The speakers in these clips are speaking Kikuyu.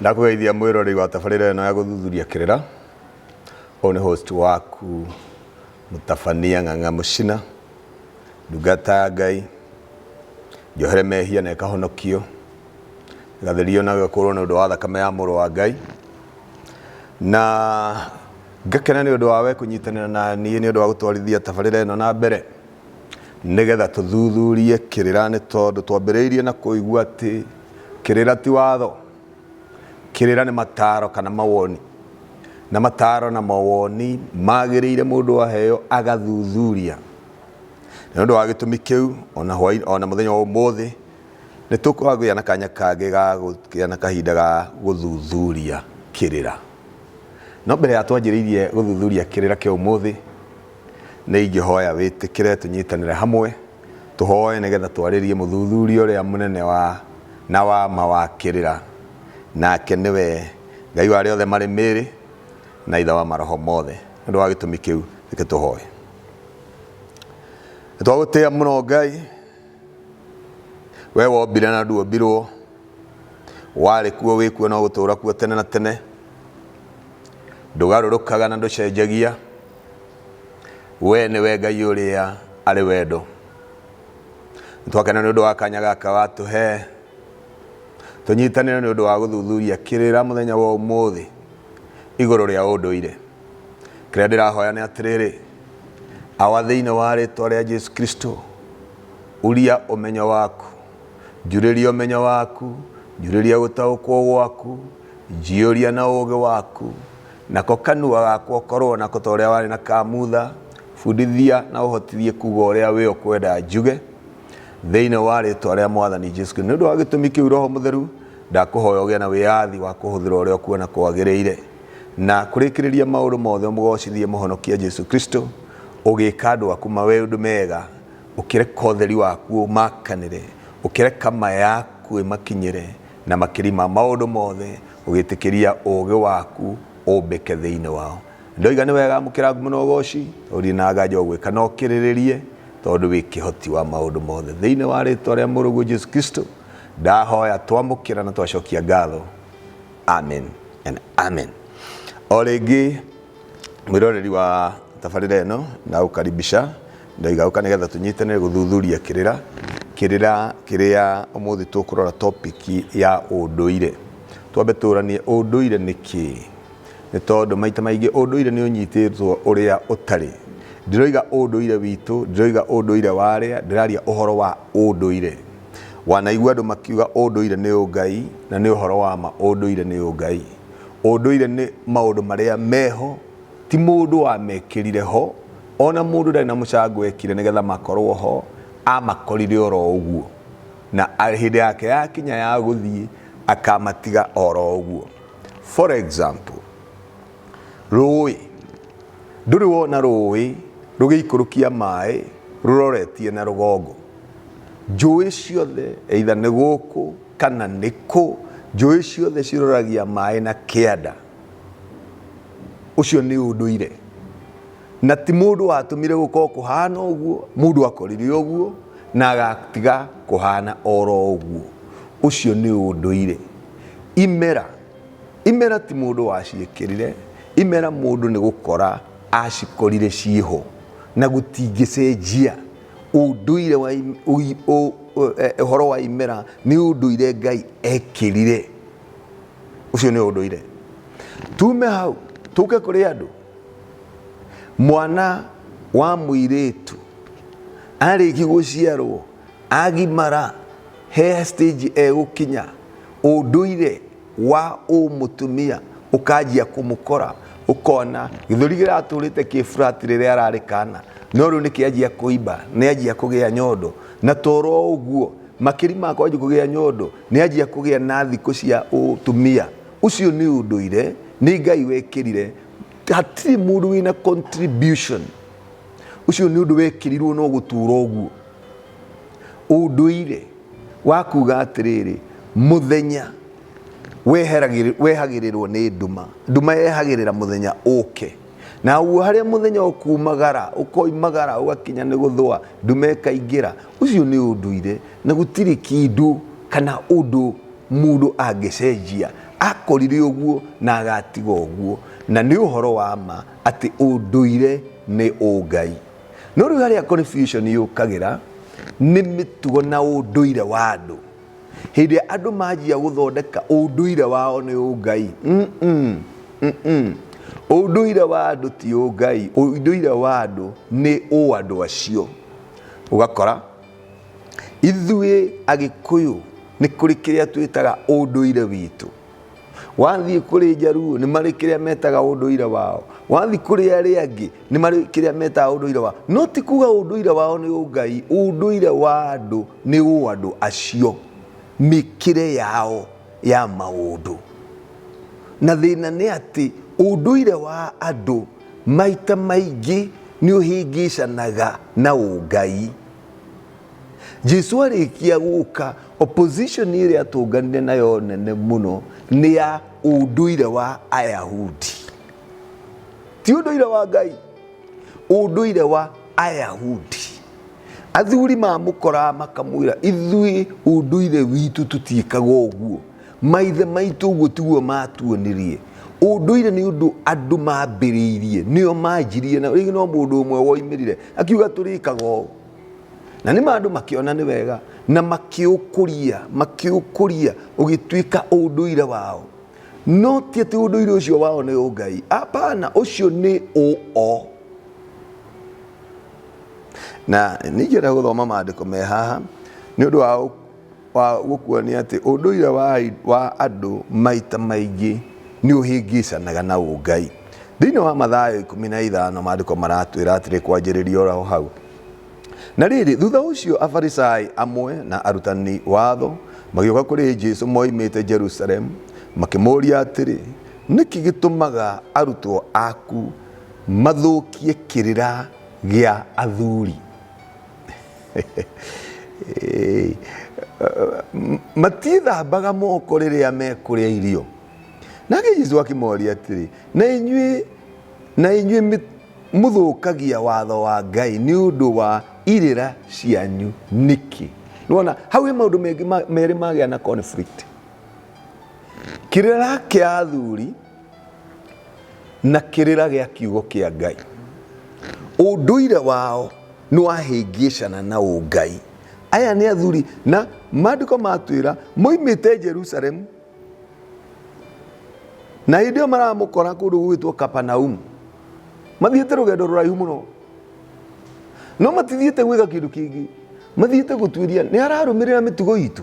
Ndakũgeithia mwĩrorei wa tabarĩra ĩno ya gũthuthuria kĩrĩra. Ũyũ nĩ host waku mũtabania ng'ang'a mũcina, ndungata ya Ngai, njohere mehia na ĩkahonokio, ĩgatherio na ĩgakũrwo nĩ ũndũ wa thakame ya mũrũ wa Ngai. Na ngakena nĩ ũndũ wa we kũnyitanĩra na niĩ nĩ ũndũ wa gũtwarithia tabarĩra ĩno na mbere. Nĩgetha tũthuthurie kĩrĩra nĩ tondũ twambĩrĩirie na kũigua atĩ kĩrĩra ti watho. Kĩrĩra nĩ mataro kana mawoni. Na mataro na mawoni magĩrĩire mũndũ aheo agathuthuria. Na nĩ ũndũ wa gĩtũmi kĩu ona hwainĩ ona mũthenya wa ũmũthĩ nĩ tũkũgĩa na kanya kangĩ ga gũkĩgĩa na kahinda ga gũthuthuria kĩrĩra. No mbere ya twanjĩrĩirie gũthuthuria kĩrĩra kĩa ũmũthĩ, Nĩ ingĩhoya wĩtĩkĩre tũnyitanĩre hamwe tũhoe nĩ getha twarĩrie mũthuthuria ũrĩa mũnene wa na wa ma wa kĩrĩra, nake nĩ we Ngai wa arĩa othe marĩ mĩĩrĩ na Ithe wa maroho mothe. Nĩ ũndũ wa gĩtũmi kĩu, reke tũhoe. Nĩ twagũtĩa mũno Ngai, we wombire na nduombirwo, warĩ kuo, wĩ kuo na ũgũtũũra kuo tene na tene. Ndũgarũrũkaga na ndũcenjagia. we nĩwe ngai ũrĩa arĩ wendo nĩtwakena nĩ ũndũ wa kanya gaka watũhe tũnyitanĩre nĩ ũndũ wa gũthuthuria kĩrĩra mũthenya wa ũmũthĩ igũrũ rĩa ũndũire kĩrĩa ndĩrahoya nĩ atĩrĩrĩ awa thĩinĩ wa rĩtwa rĩa jesu kristo uria ũmenyo waku njurĩria ũmenyo waku njurĩria gũtaũkwo gwaku njiyũria na ũũgĩ waku Nako kanua gakwa korwo nako ta ũrĩa warĩ na ka Mutha, bundithia na ũhotithie kuuga ũrĩa wĩ ũkwenda njuge, thĩinĩ wa rĩĩtwa rĩa Mwathani Jesu Kristo. Nĩ ũndũ wa gĩtũmi kĩu, Roho Mũtheru, ndakũhoya ũgĩe na wĩyathi wa kũhũthĩra ũrĩa ũkuona kwagĩrĩire, na kũrĩkĩrĩria maũndũ mothe ũmũgoocithie Mũhonokia Jesu Kristo, ũgĩĩka andũ aku maũndũ mega, ũkĩreka ũtheri waku ũmakanĩre, ũkĩreka ma yaku ĩmakinyĩre, na makĩria ma maũndũ mothe, Ũgĩtĩkĩria ũũgĩ waku ũmbĩke thĩinĩ wao. Ndoiga nĩ wega amũkĩra ngumo na ũgooci, ũthiĩ na nganja ũgwĩka na ũkĩrĩrĩrie, tondũ wĩ kĩhoti wa maũndũ mothe. Thĩinĩ wa rĩĩtwa rĩa Mũrũguo Jesu Kristo ndahoya, twamũkĩra na twacokia ngatho. Amen and Amen. O rĩngĩ mwĩroreri wa tabarĩra ĩno ndagũkaribisha Ndaiga ũka nĩgetha tũnyitanĩre gũthuthuria kĩrĩra kĩrĩra kĩrĩa ũmũthĩ tũkũrora topic ya ũndũire. Twambe tũranie ũndũire nĩ kĩĩ? Nĩ tondũ maita maingĩ ũndũire nĩ ũnyitĩtwo ũrĩa ũtarĩ. Ndiroiga ũndũire witũ, ndiroiga ũndũire wa arĩa, ndĩraria ũhoro wa ũndũire. Wanaigua andũ makiuga ũndũire nĩ ũngai, na nĩ ũhoro wa ma ũndũire nĩ ũngai. Ũndũire nĩ maũndũ marĩa meho, ti mũndũ wamekĩrire ho. Ona mũndũ ndarĩ na mũcango ekire nĩgetha makorwo ho, amakorire oro ũguo. Na hĩndĩ yake yakinya ya gũthiĩ, akamatiga oro ũguo. For example, rũĩ. Ndũrĩ wona rũĩ rũgĩikũrũkia maĩ rũroretie na rũgongo. Njũĩ ciothe either nĩ gũkũ kana nĩ kũ, njũĩ ciothe ciroragia maĩ na kĩanda. Ũcio nĩ ũndũire. na ti mundu watumire gukorwo kuhana uguo mundu akorire uguo na agatiga kuhana oro uguo ucio ni unduire imera imera ti mundu waciekirire imera mundu ni gukora acikorire cieho na gutingicenjia unduire wa uhoro eh, wa imera ni unduire ngai ekirire ucio ni unduire tume hau tuke kuri andu mwana wa mũirĩtu arĩki gũciarwo agimara he stage egũkinya ũndũire wa ũmũtumia ũkanjia kũmũkora ũkona gĩthũri kĩratũrĩte kĩ flat rĩrĩa ararĩ kana no rĩu nĩkĩanjia kũimba nĩanjia kũgĩa nyondo na toro ũguo makĩri ma kwanjia kũgĩa nyondo nĩanjia kũgĩa na thikũ cia ũtumia Ũcio nĩ ũndũire, nĩ Ngai wekĩrire, hatirĩ mũndũ wĩna contribution. Ũcio nĩ ũndũ wekĩrirwo no gũtũũra ũguo. Ũndũire wa kuga atĩrĩrĩ, mũthenya weheragĩrĩ- wehagĩrĩrwo nĩ nduma, nduma yehagĩrĩra mũthenya ũke. Naguo harĩa mũthenya ũkuumagara, ũkoimagara, ũgakinya nĩ gũthũa, ndume ĩkaingĩra. Ũcio nĩ ũndũire, na gũtirĩ kĩndũ kana ũndũ mũndũ angĩcenjia. Akorire ũguo na agatiga ũguo. Na nĩ ũhoro wa ma atĩ ũndũire nĩ ũngai. No rĩu harĩa confusion yũkagĩra, nĩ mĩtugo na ũndũire wa andũ. hĩndĩ ĩrĩa andũ manjia gũthondeka ũndũire wao nĩ ũngai mm -mm, mm -mm. ũndũire wa andũ ti ũngai ũndũire wa andũ nĩ ũ andũ acio ũgakora ithuĩ agĩkũyũ nĩ kũrĩ kĩrĩa twĩtaga ũndũire witũ wathiĩ kũrĩ njaruo nĩ marĩ kĩrĩa metaga ũndũire wao wathiĩ kũrĩ arĩa angĩ nĩ marĩ kĩrĩa metaga ũndũire wao no ti kuga ũndũire wao nĩ ũngai ũndũire wa andũ Nĩ ũũ andũ acio, mĩkĩre yao ya maũndũ. Na thĩna nĩ atĩ ũndũire wa andũ maita maingĩ nĩ ũhĩngĩcanaga na ũngai. Jesu arĩkia gũka, opposition ĩrĩa atũnganire nayo nene mũno nĩ ya ũndũire wa Ayahudi. Ti ũndũire wa Ngai, ũndũire wa Ayahudi. Athuri mamũkoraga makamwĩra, Ithuĩ ũndũire witũ tũtiĩkaga ũguo. Maithe maitũ ũguo tiguo maatuonirie. Ũndũire nĩ ũndũ andũ mambĩrĩirie, nĩo manjirie na rĩngĩ no mũndũ ũmwe woimĩrire akiuga tũrĩkaga ũũ. Na nĩ ma andũ makĩona nĩ wega na makĩũkũria, makĩũkũria ũgĩtuĩka ũndũire wao. No ti atĩ ũndũire ũcio wao nĩ ũngai, apana, ũcio nĩ ũ o. na ningĩenda gũthoma maandĩko me haha nĩ ũndũ wa, wa gũkuonia atĩ ũndũire wa, wa andũ maita maingĩ nĩ ũhĩngĩcanaga na ũngai thĩinĩ wa mathayo ikũmi na ithano maandĩko maratwĩra atĩrĩ kwanjĩrĩria oro hau na rĩrĩ thutha ũcio afarisai amwe na arutani watho magĩũka kũrĩ jesu moimĩte jerusalemu makĩmũria atĩrĩ nĩkĩ gĩtũmaga arutwo aku mathũkie kĩrĩra gĩa athuri Ĩĩ. M- matiĩthambaga moko rĩrĩa mekũrĩa irio nake jesu akĩmoria atĩrĩ na inyuĩ na inyuĩ mĩ- mũthũkagia watho wa ngai nĩ ũndũ wa irĩra cianyu nĩkĩ nĩwona hau he maũndũ mengĩ ma- merĩ magĩa na conflict kĩrĩra kĩa athuri na kĩrĩra gĩa kiugo kĩa Ngai. Ũndũire wao nĩ wahĩngĩcana na ũngai. Aya nĩ athuri na maandĩko matwĩra moimĩte Jerusalemu na hĩndĩ ĩyo maramũkora kũndũ gũgĩtwo Kapanaumu. Mathiĩte rũgendo rũraihu mũno no matithiĩte gwĩka kĩndũ kĩngĩ, mathiĩte gũtuĩria nĩ ararũmĩrĩra mĩtugo itũ.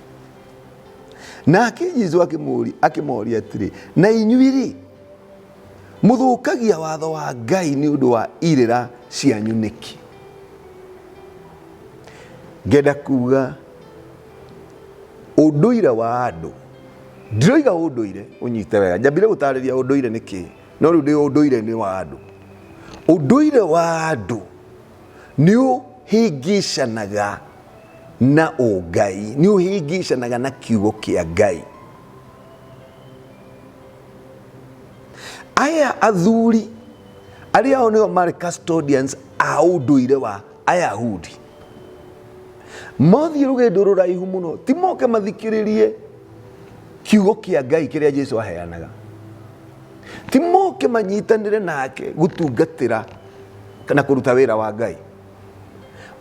nake jesu akĩmũũri- akĩmoria atĩrĩ na inyuĩ-rĩ mũthũkagia watho wa ngai nĩ ũndũ wa irĩra cianyu nĩkĩ ngenda kuga ũndũire wa andũ ndiroiga ũndũire ũnyite wega njambire gũtarĩria ũndũire nĩ kĩĩ no rĩu ndĩ ũndũire nĩ wa andũ ũndũire wa andũ nĩ ũhĩngĩcanaga na ũngai nĩ ũhĩngĩcanaga na kiugo kĩa ngai aya athuri arĩa ao nĩo marĩ custodians a ũndũire wa ayahudi mothiĩ rũgendo rũraihu mũno ti moke mathikĩrĩrie kiugo kĩa ngai kĩrĩa jesu aheanaga ti moke manyitanĩre nake gũtungatĩra kana kũruta wĩra wa ngai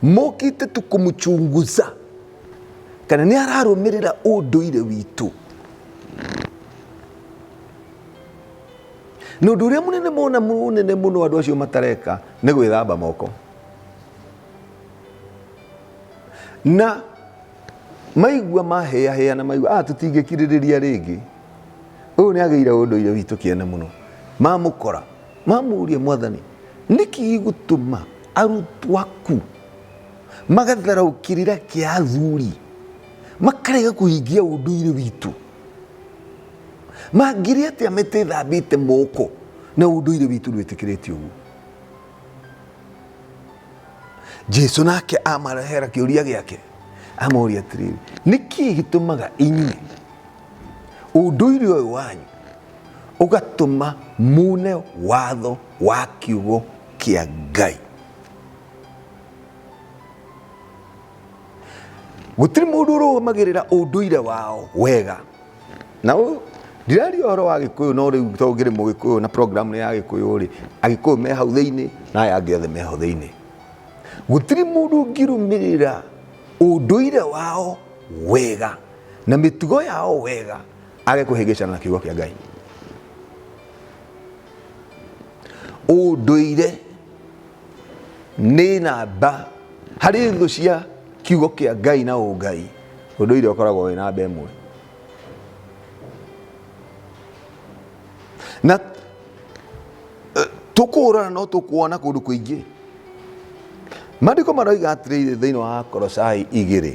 mokite tu kumuchunguza kana ni ararumirira unduire witu na undu uria munene mona munene muno andu acio matareka ni gwithamba moko na maigua mahĩahĩa na maigua ah tũtingĩkirĩrĩria rĩngĩ ũyũ nĩ agĩire ũndũire witũ kĩene mũno mamũkora mamũũrie mwathani nĩkĩ gĩgũtũma arutwo aku magatharaũ kĩrĩra kĩa athuri makarega kũhingia ũndũire witũ mangĩrĩ atĩa metethambĩte moko na ũndũire witũ ndwĩtĩkĩrĩtie ũguo jesu nake amarehera kĩũria gĩake amoria atĩrĩrĩ nĩkĩ gĩtũmaga inyuĩ ũndũire ũyũ wanyu ũgatũma mune watho wa kiugo kĩa ngai gũtirĩ mũndũ ũrũgamagĩrĩra ũndũire wao wega na ũyũ ndiraria ũhoro wa gĩkũyũ no rĩu to ngĩrĩ mũgĩkũyũ na programu ya gĩkũyũ rĩ agĩkũyũ me hau thĩinĩ na aya angĩ othe me hau thĩinĩ gũtirĩ mũndũ ũngĩrũmĩrĩra ũndũire wao wega na mĩtugo yao wega age kũhĩngĩcana na kiugo kĩa ngai ũndũire nĩ namba harĩ thũ cia kiugo kĩa ngai na ũngai ũndũire ũkoragwo wĩ namba ĩmwe na eh, tũkũhũrana no tũkuona kũndũ kũingĩ maandĩko maroiga atĩrĩrĩ thĩinĩ wa korosai igĩrĩ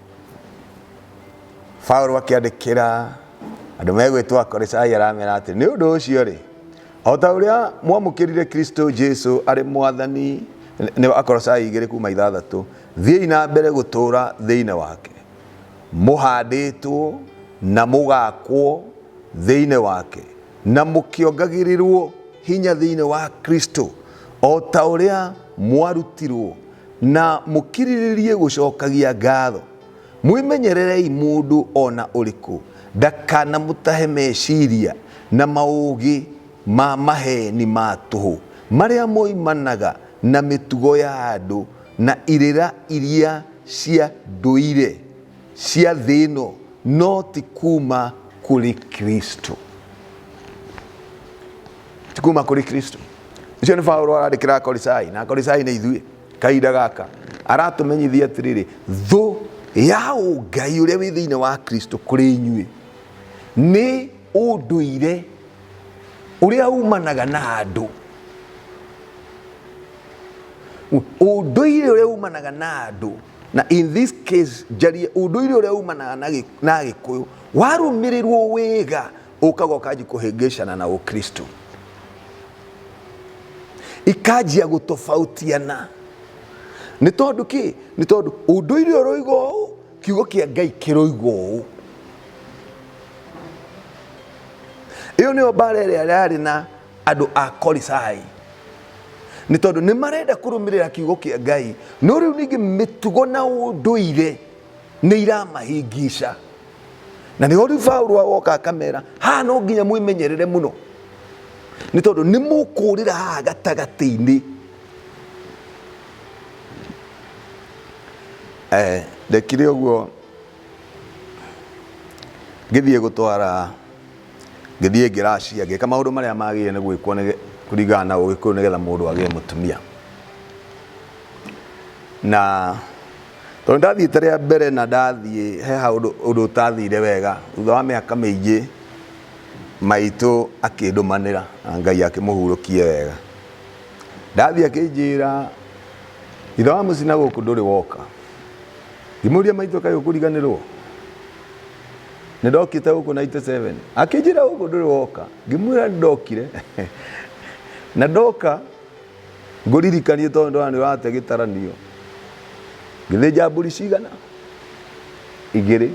Paulo akĩandĩkĩra andũ megwĩtwo Akorisai aramera atĩ nĩ ũndũ ũcio rĩ o ta ũrĩa mwamũkĩrire Kristo Jesu arĩ mwathani nĩ Akorisai igĩrĩ kuma ithathatũ thiĩi na mbere gũtũũra thĩinĩ wake mũhandĩtwo na mũgakwo thĩinĩ wake na mũkĩongagĩrĩrwo hinya thĩinĩ wa Kristo o ta ũrĩa mwarutirwo Na mũkirĩrĩrie gũcokagia ngatho. Mwĩmenyererei mũndũ o na ũrĩkũ ndakanamũtahe meciria na maũũgĩ ma maheeni ma tũhũ, marĩa moimanaga na mĩtugo ya andũ na irĩra iria cia ndũire cia thĩ ĩno, no ti kuuma kũrĩ Kristo. Ti kuuma kũrĩ Kristo. ũcio nĩ paulo arandĩkĩra akorisai na akorisai nĩ ithuĩ kahinda gaka aratũmenyithia atĩrĩrĩ thũ ya ũngai ũrĩa wĩ thĩinĩ wa kristo kũrĩ inyuĩ nĩ ũndũire ũrĩa umanaga na andũ ũndũire ũrĩa umanaga na andũ na in this case njarie ũndũire ũrĩa umanaga na gĩ- na gĩkũyũ warũmĩrĩrwo wega ũkagwa ũkanji kũhĩngĩcana na ũkristo ikanjia gũtobautiana nĩ tondũ kĩ nĩ tondũ ũndũire ũroiga ũũ kiugo kĩa ngai kĩroiga ũũ ĩyo nĩyo mbara ĩrĩa yarĩ na andũ a korisai nĩ tondũ nĩ marenda kũrũmĩrĩra kiugo kĩa ngai no rĩu ningĩ mĩtugo na ũndũire nĩ iramahingica na nĩho rĩu Paulo agoka akamera haha no nginya mwĩmenyerere mũno nĩ tondũ nĩ mũkũrĩra haha gatagatĩ-inĩ eh, ndekire ũguo ngĩthiĩ gũtwara ngĩthiĩ ngĩracia ngĩka maũndũ marĩa magĩrĩire nĩ gwĩkwo nĩ- kũringana na ũgĩkũyũ nĩgetha mũndũ agĩe mũtumia na Tondũ ndathiĩte rĩa mbere na ndathiĩ he haũndũ ũndũ ũtathire wega, thutha wa mĩaka mĩingĩ maitũ akĩndũmanĩra na Ngai akĩmũhurũkie wega. Ndathiĩ akĩnjĩra ithe wa mũcii na gũkũ ndũrĩ woka. Ngĩmũria maitũ kaĩ ũkũriganĩrwo? Nĩ ndokĩte gũkũ 97. Akĩnjĩra gũkũ ndũrĩ woka. Ngĩmwĩra nĩ ndokire na ndoka. Ngũririkanie tondũ ndona nĩ ũrate gĩtaranio. Ngĩthĩnja mbũri cigana? Igĩrĩ.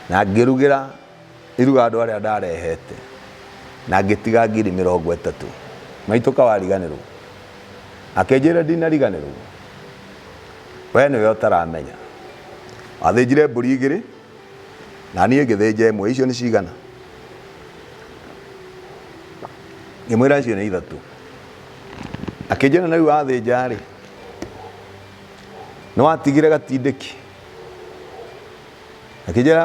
Na ngĩrugĩra iruga andũ arĩa ndarehete. Na ngĩtiga ngiri mĩrongo ĩtatũ. Maitũ ka wariganĩrwo? Akĩnjĩra ndinariganĩrwo. We nĩwe ũtaramenya. Wathĩnjire mbũri igĩrĩ, na niĩ ngĩthĩnja ĩmwe icio nĩ cigana ngĩmwĩra icio nĩ ithatũ akĩnjĩra na rĩu wathĩnja rĩ nĩ watigire gatindĩki akĩnjĩra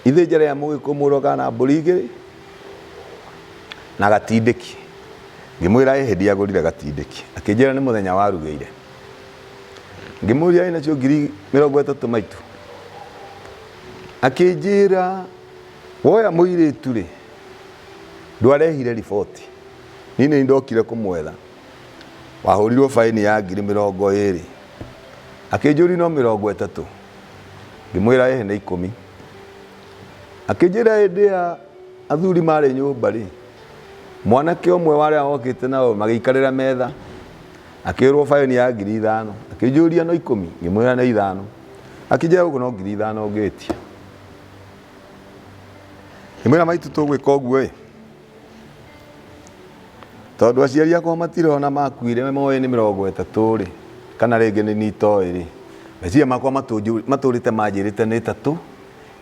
ithĩnja rĩa mũgĩkũmũrwo kana mbũri igĩrĩ na gatindĩki ngĩmwĩra ĩ hĩndĩ agũrire gatindĩki akĩnjĩra nĩ mũthenya warugĩire ngĩmũria wĩ nacio ngiri mĩrongo ĩtatũ maitũ akĩnjĩra woya mũirĩtu rĩ ndwarehire riboti niĩ nĩ ndokire kũmwetha wahũrirwo baĩni ya ngiri mĩrongo ĩrĩ akĩnjũri no mĩrongo ĩtatũ ngĩmwĩra ĩhe nĩ ikũmi akĩnjĩra hĩndĩ ya athuri marĩ nyũmba rĩ mwanake ũmwe warĩa wokĩte nao magĩikarĩra metha Akĩrwo baĩni ya ngiri ithano. Akĩnjũria no ikũmi? Ngĩmwĩra nĩ ithano. Akĩnjĩra gũkũ no ngiri ithano ũngĩtia. Ngĩmwĩra maitũ tũgwĩka ũguo ĩ. Tondũ aciari akwa matirona makuire moĩ nĩ mĩrongo ĩtatũ rĩ, kana rĩngĩ nĩ niĩ itoĩ rĩ, meciria makwa matũrĩte manjĩrĩte nĩ ĩtatũ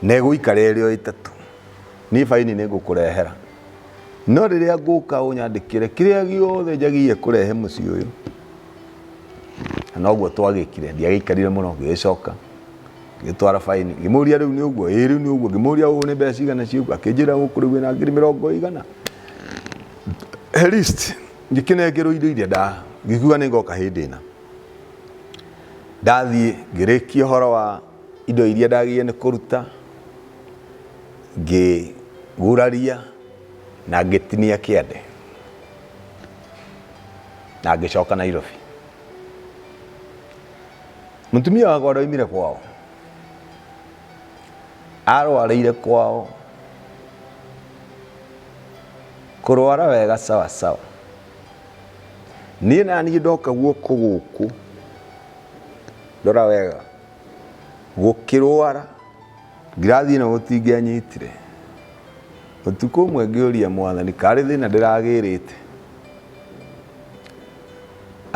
na ĩgũikara ĩrĩ o ĩtatũ. Niĩ baĩni nĩ ngũkũrehera. no rĩrĩa ngũka ũnyandĩkĩre kĩrĩa gĩothe njagiye kũrehe mũciĩ ũyũ na noguo twagĩkire ndiagĩikarire mũno ngĩgĩcoka ngĩtwara faini ngĩmũria rĩu nĩ ũguo ĩĩ rĩu nĩ ũguo ngĩmũria ũũ nĩ mbeca cigana ciũguo akĩnjĩra gũkũ rĩu wĩna ngiri mĩrongo igana at least ngĩkĩnengerwo indo iria nda ngĩkiuga nĩ ngoka hĩndĩ ĩna ndathiĩ ngĩrĩkia ũhoro wa indo iria ndagĩrĩire nĩ kũruta Ngĩguraria na ngĩtinia kĩande na ngĩcoka Nairobi. Mũtumia wakwa ũrĩa oimire kwao arwarĩire kwao kũrwara wega sawa sawa. Niĩ naniĩ ndoka guoko gũkũ ndora wega gũkĩrwara. Ngirathi ĩno gũtingĩanyitire. Ũtukũ ũmwe ngĩũria mwathani karĩ thĩna ndĩragĩrĩte.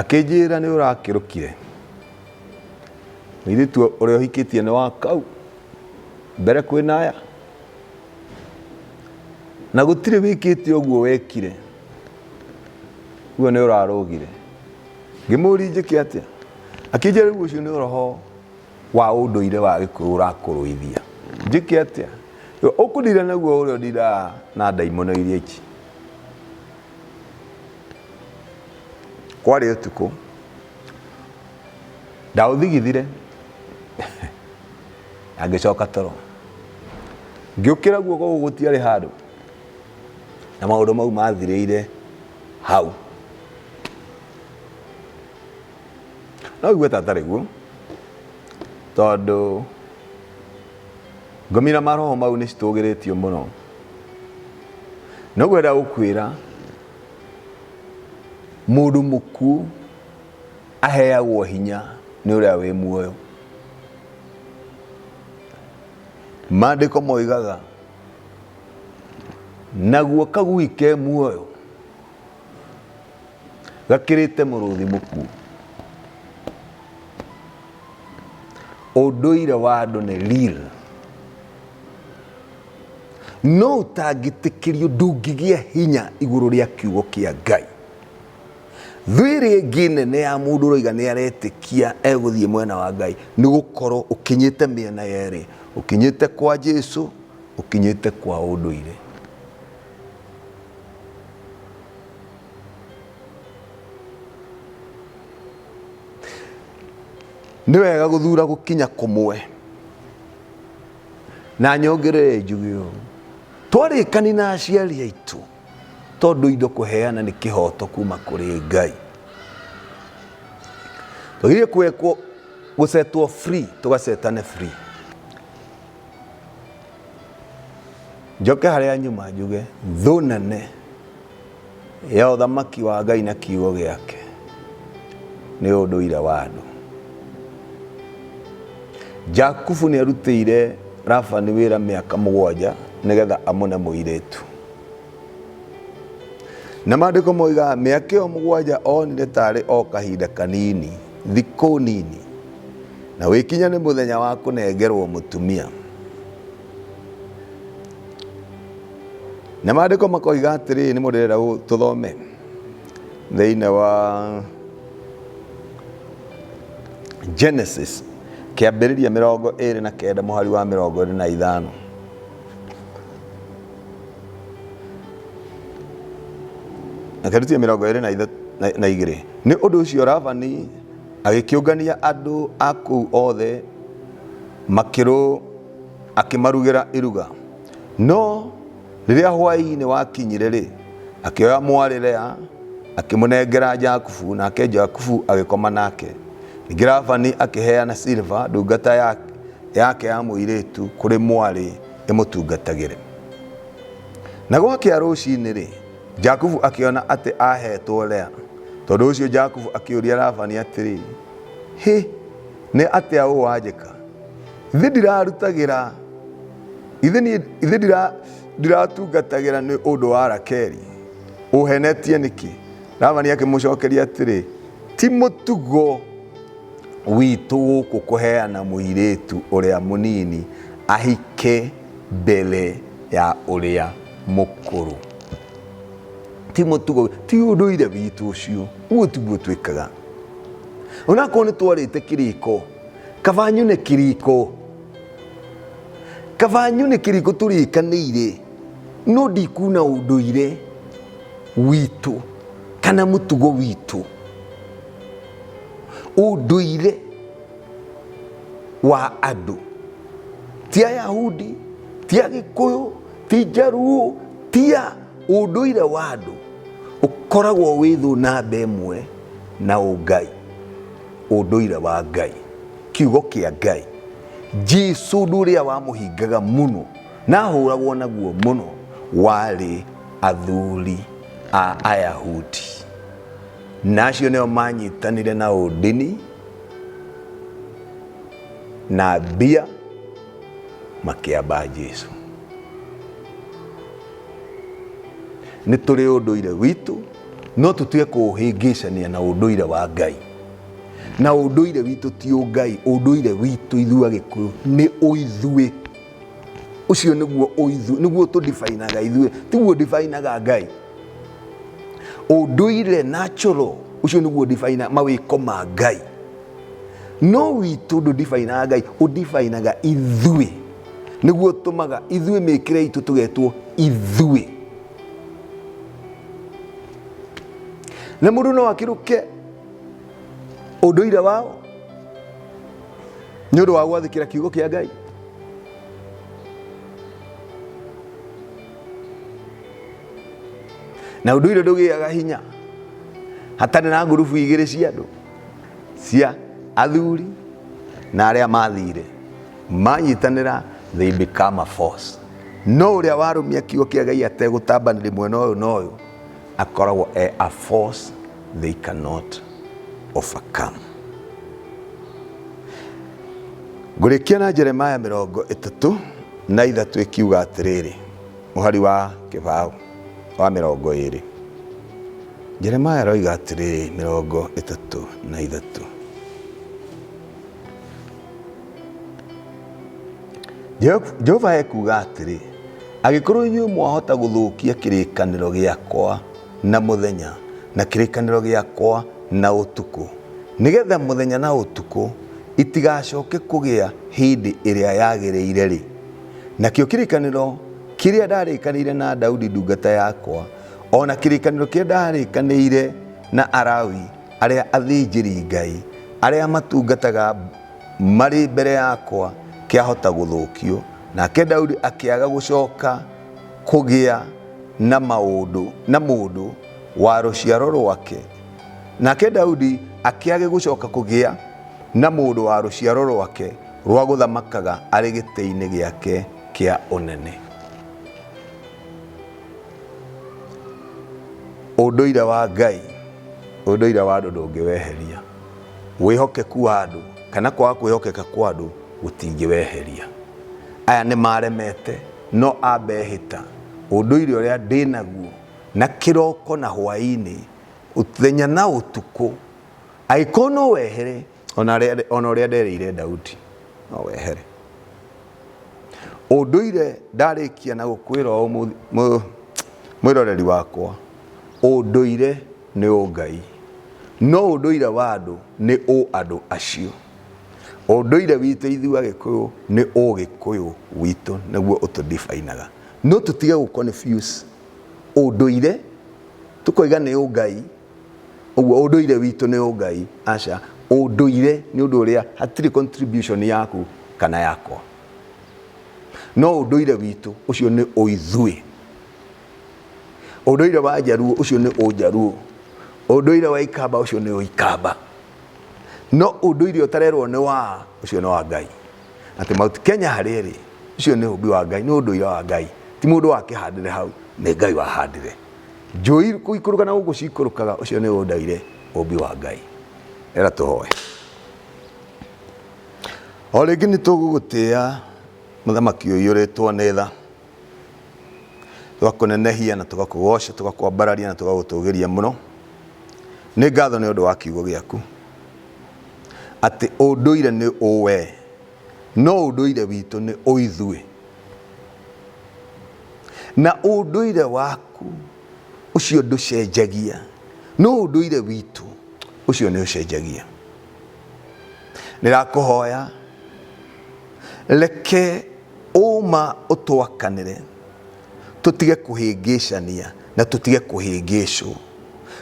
Akĩnjĩra nĩ ũrakĩrũkire. Mũirĩtu ũrĩa ũhikĩtie nĩ wa kau mbere kwĩ naya. Na gũtirĩ wĩkĩte ũguo wekire. Guo nĩ ũrarũgire. Ngĩmũria njĩke atĩa? Akĩnjĩra rĩu ũcio nĩ ũroho. wa ũndũire wa gĩkũyũ ũrakũrũithia njĩke atĩa ũkũndira naguo ũrĩa ũndiraga na ndaimono iria ici kwarĩ ũtukũ ndaũthigithire na ngĩcoka toro ngĩũkĩra guo koguo gũtiarĩ handũ na maũndũ mau mathirĩire hau No igue tatarĩ guo, tondũ ngomira maroho mau nĩ citũgĩrĩtio mũno. Nĩguo ĩrĩa ũkwĩra mũndũ mũkuũ aheagwo hinya nĩ ũrĩa wĩ muoyo. Maandĩko moigaga naguo kagui ke muoyo. gakĩrĩte mũrũthi mũkuũ ũndũire wa andũ nĩ real no ũtangĩtĩkĩrio ndũngĩgĩa hinya igũrũ rĩa kiugo kĩa ngai thwĩrĩ ĩngĩ nene ya mũndũ ũroiga nĩ aretĩkia egũthiĩ mwena wa ngai nĩ gũkorwo ũkinyĩte mĩena yerĩ ũkinyĩte kwa jesu ũkinyĩte kwa ũndũire nĩ wega gũthura gũkinya kũmwe na nyongerere njuge ũũ twarĩkani na aciari aitũ tondũ indo kũheana nĩ kĩhoto kuma kũrĩ ngai tũgĩrĩe kwekwo gũcetwo free tũgacetane free njoke harĩa nyuma njuge thũ nene ya ũthamaki wa ngai na kiugo gĩake nĩ ũndũire wa andũ jakubu nĩ arutĩire rabani wĩra mĩaka mũgwanja nĩgetha amũne mũirĩtu na maandĩko moigaga mĩaka ĩyo mũgwanja onire tarĩ o kahinda kanini Thikũ nini, na wĩkinya nĩ mũthenya wa kũnengerwo mũtumia. Na maandĩko makoiga atĩrĩ, nĩ mũndĩrenda tũthome thĩinĩ wa Genesis kĩambĩrĩria mĩrongo ĩrĩ na kenda mũhari wa mĩrongo ĩrĩ na ithano. na keruti mĩrongo ĩrĩ na ithatũ na- na igĩrĩ nĩ ũndũ ũcio ravani agĩkĩũngania andũ a kũu othe makĩrũ akĩmarugĩra iruga no rĩrĩa hwaĩ-inĩ wakinyire-rĩ akĩoya mwarĩ lea akĩmũnengera jakubu nake jakubu agĩkoma nake ningĩ ravani akĩheana silva ndungata ya- yake ya mũirĩtu kũrĩ mwarĩ ĩmũtungatagĩre. Na gwakĩa rũcinĩ-rĩ, Jakubu akĩona atĩ aaheetwo Lea. Tondũ ũcio Jakubu akĩũria Labani atĩrĩ, Hĩ, nĩ atĩa ũũ wanjĩka? Githĩ ndirarutagĩra, githĩ niĩ- githĩ ndira- ndiratungatagĩra nĩ ũndũ wa Rakeli? Ũũhenetie nĩkĩ? Labani akĩmũcokeria atĩrĩ, Ti mũtugo witũ gũkũ kũheana mũirĩtu ũrĩa mũnini ahike mbere ya ũrĩa mũkũrũ. Ti mũtugo, ti ũndũire witũ ũcio, ũguo tiguo twĩkaga. Onakorwo nĩ twarĩte kĩrĩko, kaba nyune kĩrĩko, kaba nyune kĩrĩko tũrĩkanĩire, no ndikuna ũndũire witũ kana mũtugo witũ. ũndũire wa andũ ti ayahudi ti agĩkũyũ ti njaruo ti a ũndũire wa andũ ũkoragwo wĩ thũ namba ĩmwe na ũngai ũndũire wa ngai kiugo kĩa ngai jesu ũndũ ũrĩa wamũhingaga mũno na ahũragwo naguo mũno warĩ athuri a ayahudi na acio nĩo manyitanire na ũndini na mbia makĩamba jesu nĩ tũrĩ ũndũire witũ no tũtige kũũhĩngĩcania na ũndũire wa ngai na ũndũire witũ ti ũngai ũndũire witũ ithuĩ agĩkũyũ nĩ ũithuĩ ucio niguo oithu niguo tu definaga ithuĩ tiguo definaga ngai unduire natural ucio niguo defina mawiko ma ngai no witũ ndũ definaga ngai u definaga ithuĩ niguo tumaga ithuĩ mĩkĩre itũ tugetwo ithuĩ na mũndũ no akĩrũke ũndũire wao nĩ ũndũ wa gwathĩkĩra kiugo kĩa ngai na ũndũ ire ndũgĩaga hinya hatarĩ na ngurubu igĩrĩ cia andũ cia athuri na arĩa mathire manyitanĩra they become a force no ũrĩa warũmia kiugo kĩa ngai ategũtambanĩria mwena ũyũ na ũyũ akoragwo e a force they cannot overcome. Ngũrĩkia na Jeremaya mĩrongo ĩtatũ na ithatũ ĩkiuga atĩrĩrĩ, mũhari wa kĩbaũ wa mĩrongo ĩrĩ. Jeremaya aroiga atĩrĩrĩ mĩrongo ĩtatũ na ithatũ. jehova ekuga atĩrĩ agĩkorwo inyuĩ mwahota gũthũkia kĩrĩkanĩro gĩakwa na mũthenya na kĩrĩkanĩro gĩakwa na ũtukũ nĩgetha mũthenya na ũtukũ itigacoke kũgĩa hĩndĩ ĩrĩa yagĩrĩire rĩ nakĩo kĩrĩkanĩro kĩrĩa ndarĩkanĩire na daudi ndungata yakwa o na kĩrĩkanĩro kĩrĩa ndarĩkanĩire na arawi arĩa athĩnjĩri Ngai arĩa matungataga marĩ mbere yakwa kĩahota gũthũkio. Nake Daudi akĩaga gũcoka kũgĩa na maũndũ na mũndũ wa rũciaro rwake. Nake Daudi akĩage gũcoka kũgĩa na mũndũ wa rũciaro rwake rwa gũthamakaga arĩ gĩtĩ-inĩ gĩake kĩa ũnene. ũndũire wa ngai ũndũire wa andũ ndũngĩweheria wĩhokeku wa andũ kana kwaga kwĩhokeka kwa andũ gũtingĩweheria aya nĩ maremete no ambehĩta ũndũire ũrĩa ndĩnaguo na kĩroko na hwainĩ ũthenya na ũtukũ agĩkorwo no wehere O na rĩa- o na ũrĩa nderĩire Daudi no wehere ũndũire ndarĩkia na gũkwĩra ũũ mũ- mũ- mwĩroreri wakwa ũndũire nĩ ũngai no ũndũire wa andũ nĩ ũ andũ acio ũndũire witũ ithuĩ agĩkũyũ nĩ ũgĩkũyũ witũ nĩguo ũtũndibainaga no tũtige gũ confuse ũndũire tũkoiga nĩ ũngai ũguo ũndũire witũ nĩ ũngai aca ũndũire nĩ ũndũ ũrĩa hatirĩ contribution yaku kana yakwa no ũndũire witũ ũcio nĩ ũithuĩ ũndũire wa njaruo ũcio nĩ ũnjaruo ũndũire wa ikamba ũcio nĩ ũikamba no ũndũire ũtarerwo nĩ wa ũcio nĩ wa ngai atĩ mauti kenya harĩa ĩrĩ ũcio nĩ ũmbi wa ngai nĩ ũndũire wa ngai ti mũndũ wakĩhandire hau nĩ ngai wahandire Njũi kũikũrũka na gũkũ cikũrũkaga ũcio nĩ ũndaire ũmbi wa Ngai. Era tũhoe. O rĩngĩ nĩ tũgũgũtĩa mũthamaki ũyũ ũrĩtwo nĩ tha. Tũgakũnenehia na tũgakũgoca, tũgakwambararia na tũgagũtũgĩria mũno. Nĩ ngatho nĩ ũndũ wa kiugo gĩaku. Atĩ ũndũire nĩ ũwe. No ũndũire witũ nĩ ũithuĩ. na ũndũire waku ũcio ndũcenjagia no ũndũire witũ ũcio nĩ ũcenjagia ndĩrakũhoya reke ũma ũtwakanĩre tũtige kũhĩngĩcania na tũtige kũhĩngĩcwo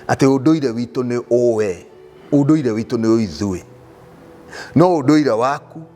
atĩ ũndũire witũ nĩ ũwe ũndũire witũ nĩ ũithuĩ no ũndũire waku